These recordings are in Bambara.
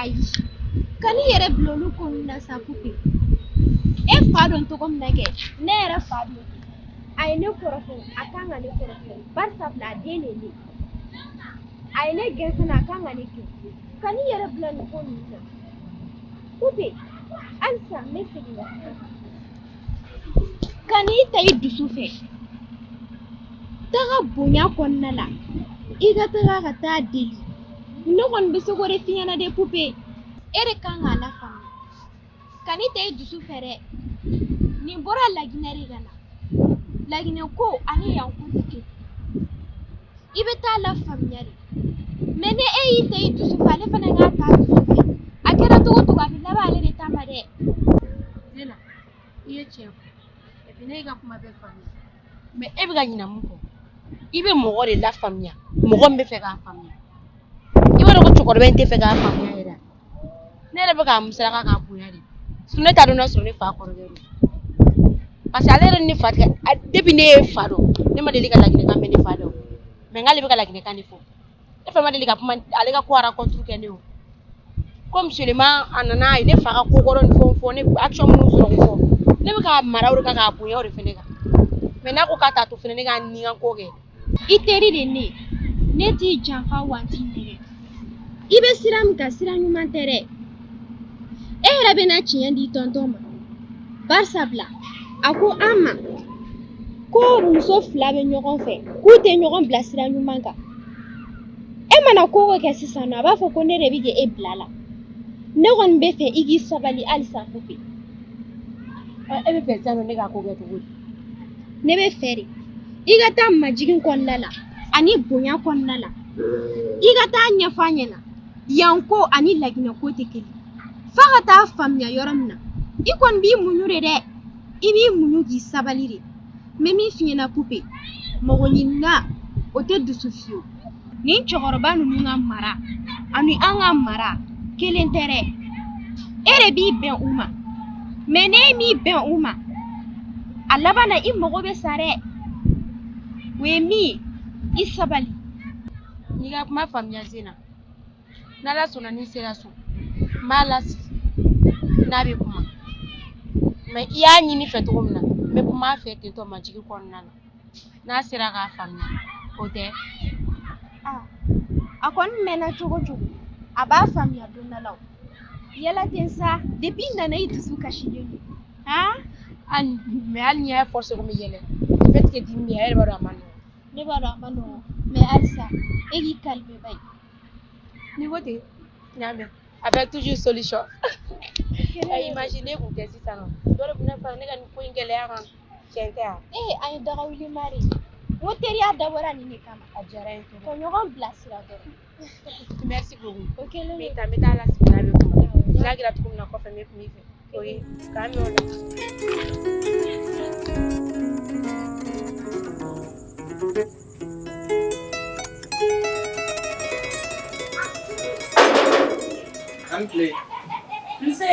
ayi kan'i yɛrɛ bila olu ko ninnu na sa pupe e fa don cogo min na kɛ ne yɛrɛ fa don a ye ne kɔrɔfɔ a kan ka ne kɔrɔfɔ barisabula a den de ye ne ye a ye ne gɛn fana a kan ka ne gɛn kan'i yɛrɛ bila nin ko ninnu na pupe halisa n bɛ segin ka kuma kan'i ta i dusu fɛ taga bonya kɔnɔna la i ka taga ka taa deli ne kɔni bɛ se k'o de f'i ɲɛna dɛ pupe e de kan k'a lafaamuya kan'i ta i dusu fɛ dɛ nin bɔra laginɛ de ka na laginɛ ko ani yan ko tɛ kelen i bɛ taa lafaamuya de mais ni e y'i ta i dusu fɛ ale fana k'a ta a dusu fɛ a kɛra cogo o cogo a bɛ laban ale de ta ma dɛ i ye tiɲɛ fɔ et puis ne y'i ka kuma bɛɛ faamuya mais e bɛ ka ɲina mun kɔ i bɛ mɔgɔ de lafaamuya mɔgɔ min bɛ fɛ k'a faamuya i b'a dɔn ko cɛkɔrɔba in tɛ fɛ k'a faamuya yɛrɛ a. ne yɛrɛ bɛ k'a musaka k'a bonya de sinon ne t'a dɔn n'a sɔrɔ ne fa kɔrɔkɛ don parce que ale yɛrɛ ni ne fa tɛ a- depuis ne ye fa dɔn ne ma deli ka laginɛkan mɛn ne fa da mais nk'ale bɛ ka laginɛkan de fɔ e fa ma deli ka kuma ale ka ko rencontre kɛ ne o comme seulement a nana a ye ne fa ka ko kɔrɔ ni fɛnw fɔ ne action minnu sɔrɔ k'o fɔ ne bɛ k'a mara o de kan k'a bonya o de fɛnɛ kan mais n'a ko k'a t'a to fɛnɛ ne k'a ni n ka ko kɛ i teri de ne ne t'i janfa wa n t'i nɛgɛn i bɛ sira min kan sira ɲuman tɛ dɛ e yɛrɛ bɛna tiɲɛ di tonton ma barisabula a ko an ma ko muso fila bɛ ɲɔgɔn fɛ k'u tɛ ɲɔgɔn bila sira ɲuman kan e mana ko o ko kɛ sisan nɔ a b'a fɔ ko ne de bɛ k'e bila la ne kɔni bɛ fɛ i k'i sabali halisa pupe e bɛ fɛ sisan nɔ ne ka ko kɛ cogo di ne bɛ fɛ de i ka taa majigin kɔnɔna la ani bonya kɔnɔna la i ka taa ɲɛfɔ a ɲɛna yan ko ani laginɛ ko tɛ kelen f'a ka taa faamuya yɔrɔ min na i kɔni b'i muɲu de dɛ i b'i muɲu k'i sabali de n bɛ min f'i ɲɛna pupe mago ɲinina o tɛ dusu fiyewu nin cɛkɔrɔba ninnu ka mara ani an ka mara kelen tɛ dɛ e de b'i bɛn u ma mais n'e m'i bɛn u ma a laban na i mago bɛ sa dɛ o ye min ye i sabali n'i ka kuma faamuya zena n'ala sɔnna ni n sera so n b'a lasigi n'a bɛ kuma mais i y'a ɲini n fɛ cogo min na n bɛ kuma a fɛ ten tɔ majigin kɔnɔna na n'a sera k'a faamuya o tɛ a kɔni mɛnna cogo o cogo a b'a faamuya don dɔ la o yɛlɛ ten sa depuis i nana i dusu kasilen don mais hali n'i y'a forcer ko n bɛ yɛlɛ fait que dimi bɛ a yɛrɛ b'a dɔn a man nɔgɔn ne b'a dɔn a man nɔgɔn mais halisa e k'i calmer ba ye n'i ko ten n y'a mɛn avec toujours solution a imagine kun tɛ sisan nɔ dɔ de bɛna fara ne ka nin ko in gɛlɛya kan tiɲɛ tɛ wa ee an ye daga wuli mari n ko teriya dabɔra nin de kama a diyara n ye trop ɲɔgɔn bilasira dɔrɔn merci beaucoup ok ne bɛ taa n bɛ taa l'hôpital n'a bɛ kuma n'a kɛra cogo min na kɔfɛ n bɛ kuma i fɛ o ye k'an bɛn o la. A ni kile. Nse.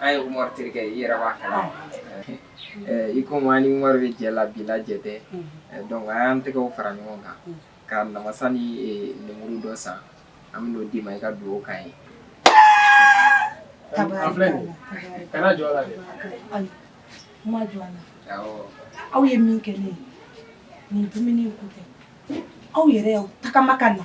an ye umaru terikɛ ye i yɛrɛ b'a kalama i komi an ni umaru bɛ jɛ la bi la jɛ tɛ donc an y'an tɛgɛw fara ɲɔgɔn kan ka namasa ni lemuru dɔ san an bɛ n'o d'i ma i ka dugawu k'an ye a filɛ nin ye kana jɔn a la dɛ n ma jɔn a la aw ye min kɛ ne ye nin dumuni ko tɛ aw yɛrɛ y'aw tagama ka na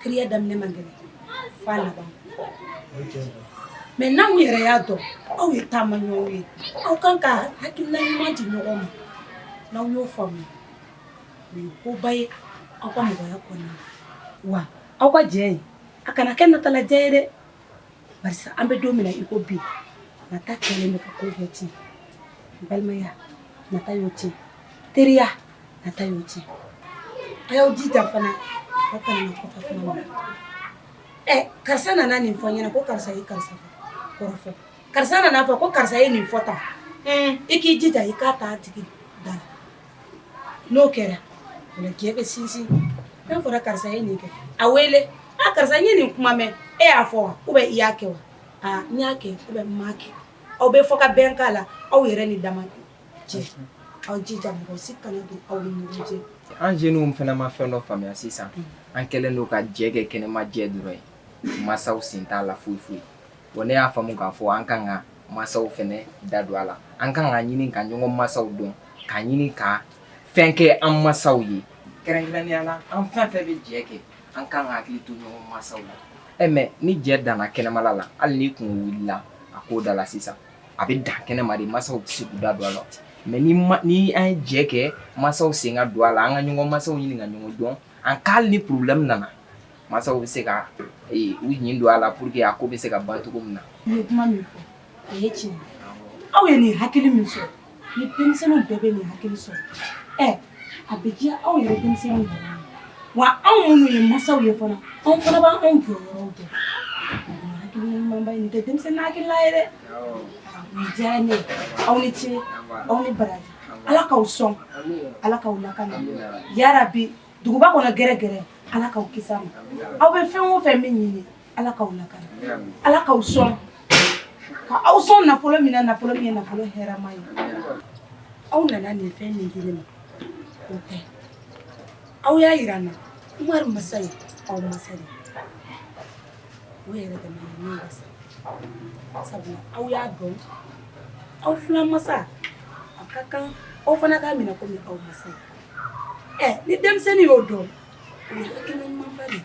teriya daminɛ man gɛlɛn f'a laban mais n'aw yɛrɛ y'a dɔn aw ye taama ɲɔgɔn ye aw kan ka hakilina ɲuman di ɲɔgɔn ma n'aw y'o faamu o ye koba ye aw ka mɔgɔya kɔnɔ wa aw ka jɛ in a kana kɛ nata la jɛ ye dɛ barisa an bɛ don min na i ko bi nata kɛlen bɛ ka ko bɛɛ tiɲɛ balimaya nata y'o tiɲɛ teriya nata y'o tiɲɛ a y'aw jija fana aw kana na kɔfɛ kuma ma ɛ karisa nana nin fɔ n ɲɛna ko karisa ye karisa kɔrɔfɔ karisa nana fɔ ko karisa ye nin fɔ tan i k'i jija i k'a t'a tigi da la n'o kɛra o la jɛ bɛ sinsin n'a fɔra karisa ye nin kɛ a wele a karisa n ye nin kuma mɛn e y'a fɔ wa ou bien i y'a kɛ wa aa n y'a kɛ ou bien n m'a kɛ aw bɛ fɔ ka bɛn k'a la aw yɛrɛ ni dama cɛ aw jija mɔgɔ si kana don aw ni ɲɔgɔn cɛ an jeunes fana ma fɛn dɔ faamuya sisan an kɛlen don ka jɛ kɛ kɛnɛma jɛ dɔrɔn ye masaw sen t'a la foyi foyi wa ne y'a faamu k'a fɔ an kan ka masaw fana da don a la an kan ka ɲini ka ɲɔgɔn masaw dɔn ka ɲini ka fɛn kɛ an masaw ye kɛrɛnkɛrɛnnenya la an fɛn fɛn bɛ jɛ kɛ an kan ka hakili to ɲɔgɔn masaw la ɛ mais ni jɛ danna kɛnɛmala la hali ni kun wulila a ko da la sisan a bɛ dan kɛnɛma de masaw tɛ se k'u da don a la mais ni ma ni an ye jɛ kɛ masaw sen ka don a la an ka ɲɔgɔn masaw ɲini ka ɲɔgɔn dɔn an k'ali ni problème nana masaw bɛ se ka ee, u ɲin don a la pour que a ko bɛ se ka ban cogo min na. N ye kuma min fɔ o ye tiɲɛ ye aw ye nin hakili min sɔrɔ ni denmisɛnninw bɛɛ bɛ nin hakili sɔrɔ ɛ a bɛ diya aw yɛrɛ denmisɛnninw yɛrɛ ye wa anw minnu ye masaw ye fana anw fana b'an anw jɔyɔrɔw dɔn nin hakilina ɲumanba in nin tɛ denmisɛnnin hakilina ye dɛ nin diyara ne ye aw ni ce aw ni baraji ala k'aw sɔn ala k'aw lakana yarabi duguba kɔnɔ gɛrɛgɛrɛ ala k'aw kisi a ma aw bɛ fɛn o fɛn min ɲini Ala k'aw lakana Ala k'aw sɔn ka aw sɔn nafolo min na nafolo min ye nafolo hɛrɛma ye aw nana nin fɛn min di ne ma o tɛ aw y'a yira n na Umaru masa ye aw masa de ye o yɛrɛ dama ye ne wasa sabula aw y'a dɔn aw filan masa a ka kan aw fana k'a minɛ komi aw masa ye ɛ ni denmisɛnnin y'o dɔn o ye hakilina ɲumanba de ye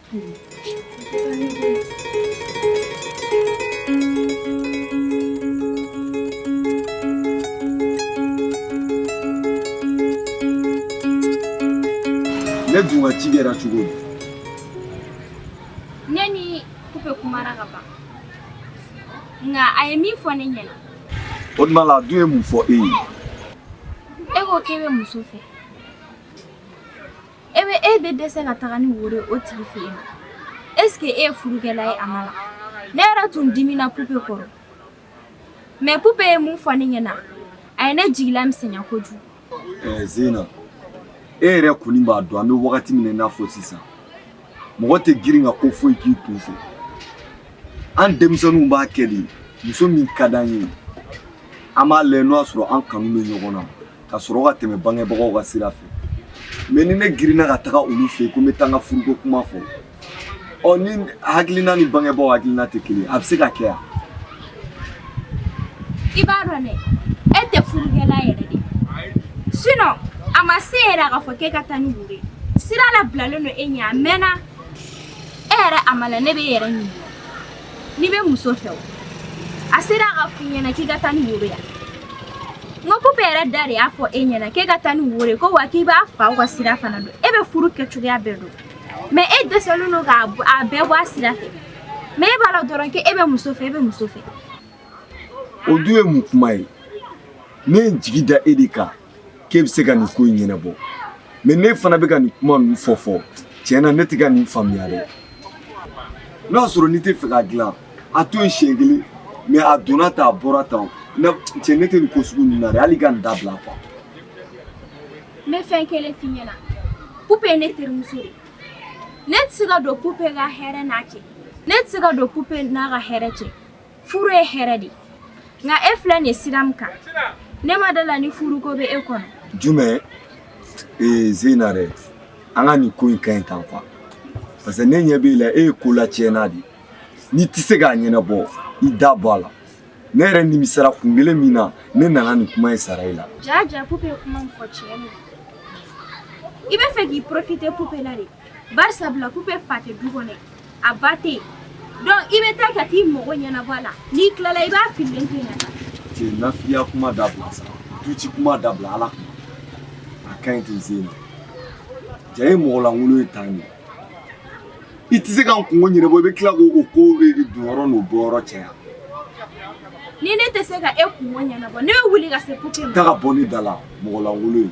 Ne dun ka ci kɛra cogo di ne ni pupe kumara ka ban nka a ye min fɔ ne ɲɛna o tuma la a dun ye mun fɔ e ye e ko k'e bɛ muso fɛ e bɛ e bɛ dɛsɛ ka taga ni woro ye o tigi fɛ yen eseke e ye furukɛla ye amala ne yɛrɛ tun dimina pupe kɔrɔ mɛ pupe ye mun fɔ ne ɲɛ na a ye ne jigila misɛnya kojugu eh, zena e yɛrɛ kɔni b'a dɔn an bɛ wagati min na i n'a fɔ sisan mɔgɔ tɛ girin ka ko foyi k'i kun fɛ an denmisɛnninw b'a kɛ de muso min ka d'an ye an b'a lajɛ n'o y'a sɔrɔ an kanu bɛ ɲɔgɔn na ka sɔrɔ ka tɛmɛ bangebagaw ka sira fɛ mɛ ni ne girinna ka taga olu fɛ yen ko n bɛ taa n ka furuko kuma fɔ ɔ ne hakilina ni bangebaaw hakilina tɛ kelen a bɛ se ka kɛ yan i b'a dɔn dɛ e tɛ furukɛla yɛrɛ de sinɔn a ma se yɛrɛ a ka fɔ k'e ka taa ni woro ye sira labilalen don e ɲɛ a mɛnna e yɛrɛ amala ne bɛ e yɛrɛ ɲininka n'i bɛ muso fɛ o a sera a ka f'i ɲɛna k'i ka taa ni woro ye wa n ko pupe yɛrɛ da de y'a fɔ e ɲɛna k'e ka taa ni woro ye ko wa k'i b'a faw ka sira fana dɔn e bɛ furu kɛcogoya bɛɛ dɔn mɛ e dɛsɛlen don k'a b- a bɛɛ bɔ a sira fɛ mɛ e b'a la dɔrɔn k'e bɛ muso fɛ e bɛ muso fɛ o dun ye mun kuma ye ne ye n jigi da e de kan k'e bɛ se ka nin ko in ɲɛnabɔ mɛ n'e fana bɛ ka nin kuma ninnu fɔ fɔ tiɲɛ na ne tɛ ka nin faamuya dɛ n'a y'a sɔrɔ n'i tɛ fɛ k'a dilan a to yen siɲɛ kelen mɛ a donna tan a bɔra tan cɛ ne tɛ nin ko sugu ninnu na dɛ hali ka nin dabila quoi. n bɛ fɛn kelen f'i ɲɛna pupe ye ne terimuso de ne tɛ se ka don pupe ka hɛrɛ n'a cɛ ne tɛ se ka don pupe n'a ka hɛrɛ cɛ furu ye hɛrɛ de nka e filɛ nin ye sira min kan ne ma d'a la ni furuko bɛ e kɔnɔ jumɛn ee zeyina dɛ an ka nin ko in ka ɲi tan quoi parce que ne ɲɛ b'i la e ye kolatiɲɛna de n'i tɛ se k'a ɲɛnabɔ i da bɔ a la ne yɛrɛ nimisara kun kelen min na ne nana nin kuma in sara i la jaa jaa pupe ye kuma min fɔ tiɲɛ don i bɛ fɛ k'i profiter pupe la de bari sabula pupe fa tɛ du kɔnɔ a ba tɛ yen donc i bɛ taa ka t'i mago ɲɛnabɔ a la n'i tilala i b'a fililen to yen ka taa. cɛ nafigiya kuma dabila sa duci kuma dabila Ala kama a ka ɲi ten zena jaa e ye mɔgɔ lankolon ye tan de i tɛ se ka n kungo ɲɛnabɔ i bɛ tila k'o ko donyɔrɔ n'o bɔyɔrɔ caya ni ne tɛ se ka e kungo ɲɛnabɔ ne bɛ wuli ka se pupe ma. taa ka bɔ ne da la mɔgɔ lankolon ye.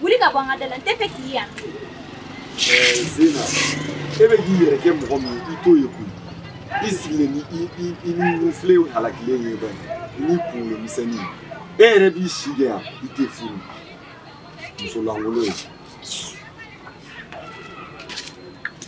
Wuli ka bɔ an ka da la n tɛ fɛ k'i ye yan. Ɛɛ Zena e bɛ k'i yɛrɛ kɛ mɔgɔ min ye i t'o ye koyi i sigilen ni i i i ni nufile halakilen ye bani i ni kunkolo misɛnnin e yɛrɛ b'i si kɛ yan i tɛ furu muso lankolon ye.